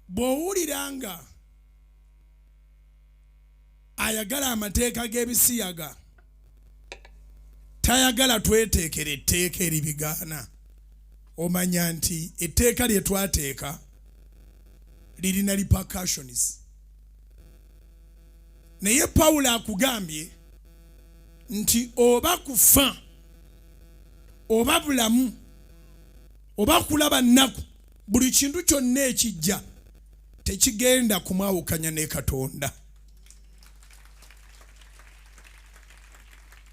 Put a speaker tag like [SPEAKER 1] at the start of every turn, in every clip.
[SPEAKER 1] bw'owulira nga ayagala amateeka g'ebisiyaga tayagala tweteekera etteeka eribigaana omanya nti etteeka lye twateeka lirina repercussions naye pawulo akugambye nti oba kufa oba bulamu oba kulaba nnaku buli kintu kyonna ekijja tekigenda kumwawukanya ne katonda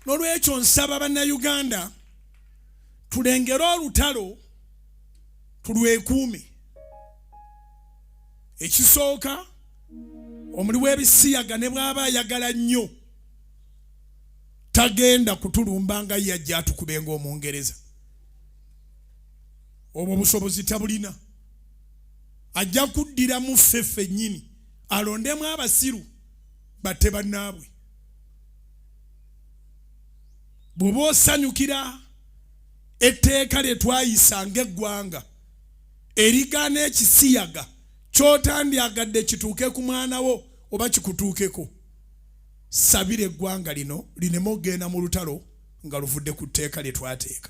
[SPEAKER 1] nolwekyo nsaba bannayuganda tulengere olutalo tulwekuume ekisooka omuli w'ebisiyaga ne bw'aba ayagala nnyo tagenda kutulumba nga yajja atukubenga omungereza obwo obusobozi tabulina ajja kuddira mu ffe ffennyini alondemu abasiru batte bannaabwe bw'oba osanyukira etteeka lye twayisa ng'eggwanga erigaana ekisiyaga ky'otandyagadde kituuke ku mwana wo oba kikutuukeko sabira eggwanga lino lineme okugenda mu lutalo nga luvudde ku tteeka lye twateeka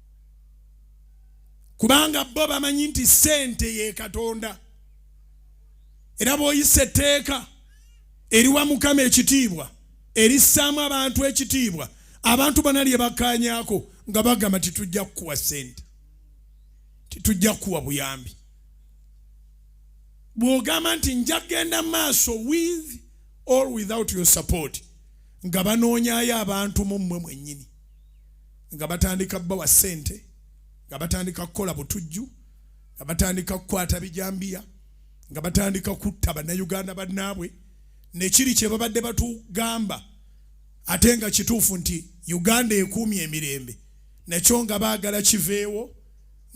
[SPEAKER 1] kubanga bo bamanyi nti sente ye katonda era bwoyisa etteeka eriwa mukama ekitiibwa erissaamu abantu ekitiibwa abantu bana lye bakkaanyako nga bagamba titujja kukuwa sente titujja kukuwa buyambi bw'ogamba nti nja kugenda maaso with or without your support nga banoonyayo abantu mu mmwe mwennyini nga batandika bawa ssente nga batandika kukola butujju nga batandika kukwata bijambiya nga batandika kutta bannayuganda bannaabwe nekiri kye babadde batugamba ate nga kituufu nti uganda ekuumye emirembe nakyo nga baagala kiveewo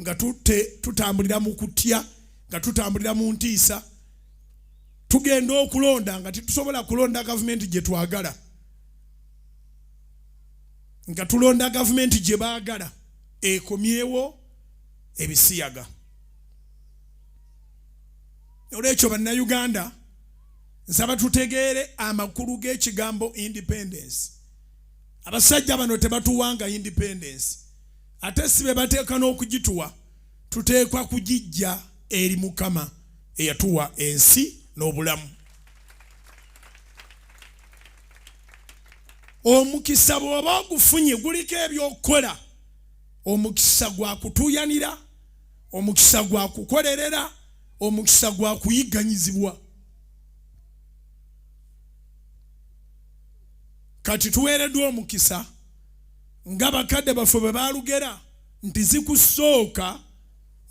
[SPEAKER 1] nga tute tutambulira mu kutya nga tutambulira mu ntiisa tugenda okulonda nga tetusobola kulonda gavumenti gye twagala nga tulonda gavumenti gye baagala ekomyewo ebisiyaga olwekyo bannayuganda nsaba tutegeere amakulu g'ekigambo independence abasajja bano tebatuwanga independence ate si be bateeka n'okugituwa tuteekwa kugijja eri mukama eyatuwa ensi n'obulamu omukisa bw'oba ogufunye guliko ebyokukola omukisa gwa kutuuyanira omukisa gwa kukolerera omukisa gwa kuyigganyizibwa kati tuweereddwa omukisa nga bakadde baffe bwe baalugera nti zikusooka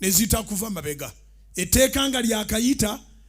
[SPEAKER 1] ne zitakuva mabega etteeka nga lyakayita